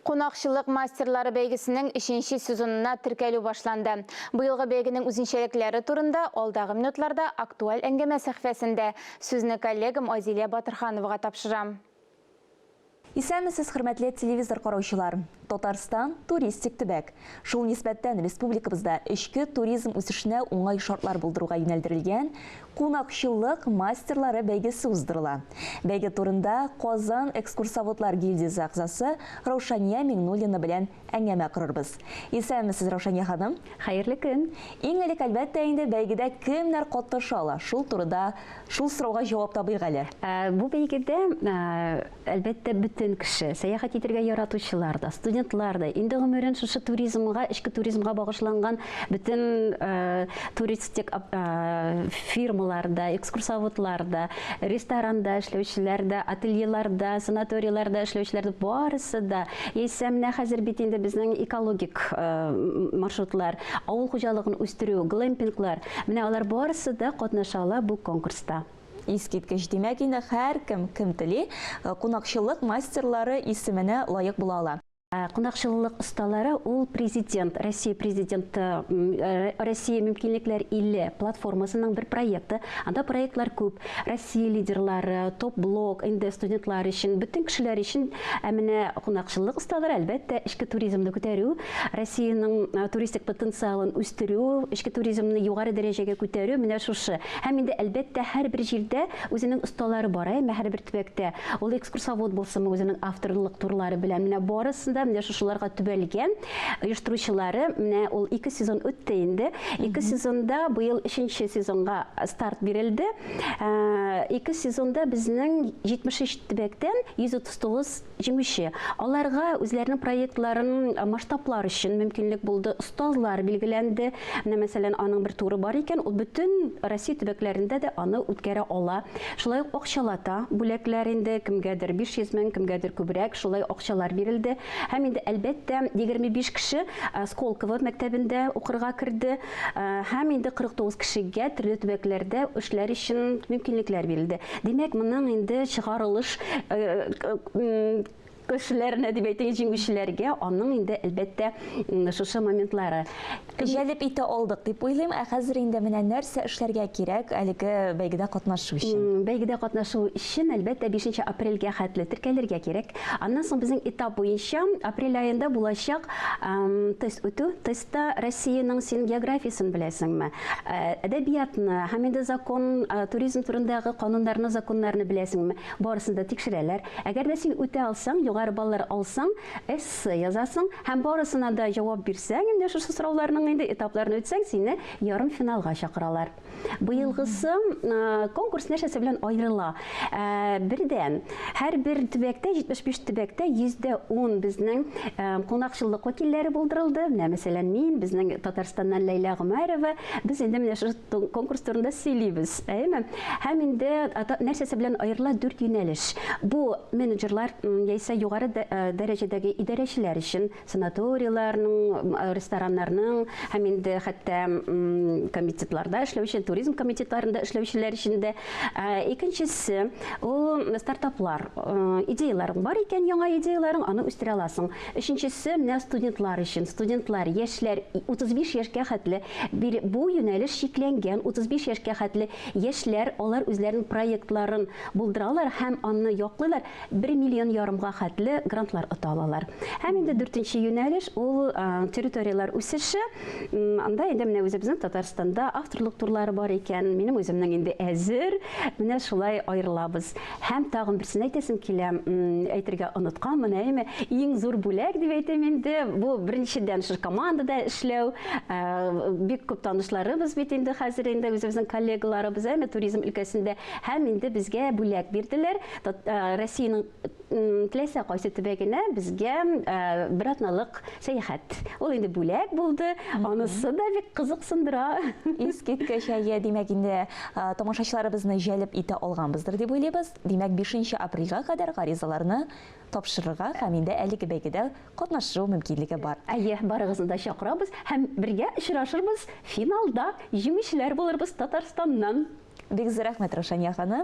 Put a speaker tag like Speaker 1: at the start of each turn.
Speaker 1: Кунакчылык мастерлары бәйгесенең өченче сезонына теркәлү башланды. Быелгы бәйгенең үзенчәлекләре турында алдагы минутларда Актуаль әңгәмә сәхфәсендә сүзне коллегам Айзилә Батырхановага тапшырам.
Speaker 2: Исәнмесез, хөрмәтле телевизор караучылар! Татарстан, туристик төбәк. Шул нисбәттән республикабызда эчке туризм үсешенә уңай шартлар булдыруга юнәлдерелгән Кунакчыллык мастерлары бәйгесе уздырыла. Бәйге турында Казан экскурсоводлар гильдиясе әгъзасы Раушания Миңнуллина белән әңгәмә корырбыз. Исәнмесез, Раушания ханым! Хәерле көн!
Speaker 3: Иң элек, әлбәттә
Speaker 2: инде, бәйгедә кемнәр катнаша ала? Шул турыда, шул сорауга җавап табыйк әле. Бу бәйгедә
Speaker 3: Әлбәттә, бөтен кеше, сәяхәт итәргә яратучылар да, студентлар да инде гомерен шушы туризмга, эчке туризмга багышланган бөтен туристик фирмалар да, экскурсоводлар да, ресторанда эшләүчеләр дә, ательеларда, санаторийларда эшләүчеләр дә, барысы да, яисә менә хәзер бит инде безнең экологик маршрутлар, авыл хуҗалыгын үстерү, глэмпинглар, менә алар барысы да катнаша ала бу конкурста. Искиткеч,
Speaker 2: димәк инде һәркем, кем тели, кунакчыллык мастерлары исеменә лаек була ала. Кунакчыллык
Speaker 3: осталары ул Президент, Россия Президенты, Россия мөмкинлекләр иле платформасының бер проекты. Анда проектлар күп. Россия лидерлары, топ-блок, инде студентлар өчен, бөтен кешеләр өчен. Ә менә кунакчыллык осталары, әлбәттә, эчке туризмны күтәрү. Россиянең туристик потенциалын үстерү, эчке туризмны югары дәрәҗәгә күтәрү менә шушы. Һәм инде әлбәттә һәрбер җирдә үзенең осталары бар, әйме, һәрбер төбәктә. Ул экскурсовод булсынмы, үзенең авторлык турлары белән. Менә барысы да менә шушыларга төбәлгән. Оештыручылары менә ул ике сезон үтте инде. Ике сезонда быел өченче сезонга старт бирелде. Ике сезонда безнең 73 төбәктән 139 Җиңүче, аларга үзләренең проектларын масштаблар өчен мөмкинлек булды, остазлар билгеләнде. Менә, мәсәлән, аның бер туры бар икән, ул бөтен Россия төбәкләрендә дә аны үткәрә ала. Шулай ук акчалата бүләкләр инде, кемгәдер 500 мең, кемгәдер күбрәк, шулай акчалар бирелде. Һәм инде, әлбәттә, 25 кеше Сколково мәктәбендә укырга керде. Һәм инде 49 кешегә төрле төбәкләрдә эшләр өчен мөмкинлекләр бирелде. Димәк, моның инде чыгарылыш кешеләренә дип әйтик, җиңүчеләргә аның инде әлбәттә шушы моментлары җәлеп итә
Speaker 2: алдык дип уйлыйм. Ә хәзер инде менә нәрсә эшләргә кирәк әлеге бәйгедә катнашу өчен? Бәйгедә катнашу
Speaker 3: өчен әлбәттә 5 апрельгә хәтле теркәлергә кирәк. Аннан соң безнең этап буенча апрель аенда булачак тест үтү, тест Та Россиянең син географиясен беләсеңме? Әдәбиятны һәм инде закон, туризм турындагы кануннарны, законнарны беләсеңме? Барысын да тикшерәләр. Әгәр дә син үтә алсаң, югары баллар алсаң, эссе язасың һәм барысына да җавап бирсәң, инде шушы сорауларның инде этапларын үтсәң, сине ярымфиналга чакыралар. Быелгысы конкурс нәрсәсе белән аерыла? Бердән, һәрбер төбәктә, 75 төбәктә 10 безнең кунакчыллык вәкилләре булдырылды. Менә, мәсәлән, мин, безнең Татарстаннан Ләйлә Гомәрова, без инде менә шул конкурс турында сөйлибез, әйеме? Һәм инде нәрсәсе белән аерыла дүрт юнәлеш. Бу менеджерлар яисә югары дәрәҗәдәге идарәчеләр өчен санаторийларның, рестораннарның һәм инде хәтта комитетларда эшләүче, туризм комитетларында эшләүчеләр өчен дә. Икенчесе, ул стартаплар. Идеяларың бар икән, яңа идеяларың, аны үстерә аласың. Өченчесе, менә студентлар өчен. Студентлар, яшьләр, 35 яшькә хәтле бу юнәлеш чикләнгән. 35 яшькә хәтле яшьләр, алар үзләренең проектларын булдыралар һәм аны яклыйлар. бер миллион ярымга хәтле грантлар ота алалар. Һәм инде дүртенче юнәлеш ул территорияләр үсеше. Анда инде менә үзебезнең Татарстанда авторлык турлары бар икән. Минем үземнең инде әзер. Менә шулай аерылабыз. Һәм тагын берсен әйтәсем килә, әйтергә оныткан менә әйме. Иң зур бүләк дип әйтәм инде. Бу беренчедән шушы командада эшләү. Бик күп танышларыбыз бит инде хәзер инде үзебезнең коллегаларыбыз, әйме, туризм өлкәсендә. Һәм инде безгә бүләк бирделәр. Россиянең теләсә кайсы төбәгенә безгә бер атналык сәяхәт. Ул инде бүләк булды, анысы да бик кызыксындыра. Искиткеч
Speaker 2: әйе, димәк инде тамашачыларыбызны җәлеп итә алганбыздыр дип уйлыйбыз. Димәк, 5 апрельгә кадәр гаризаларны тапшырырга һәм инде әлеге бәйгедә катнашу мөмкинлеге бар. Әйе, барыгызны да
Speaker 3: чакырабыз һәм бергә очрашырбыз
Speaker 2: финалда, җиңүчеләр
Speaker 3: булырбыз
Speaker 2: Татарстаннан.
Speaker 3: Бик зур рәхмәт,
Speaker 2: Раушания
Speaker 3: ханым.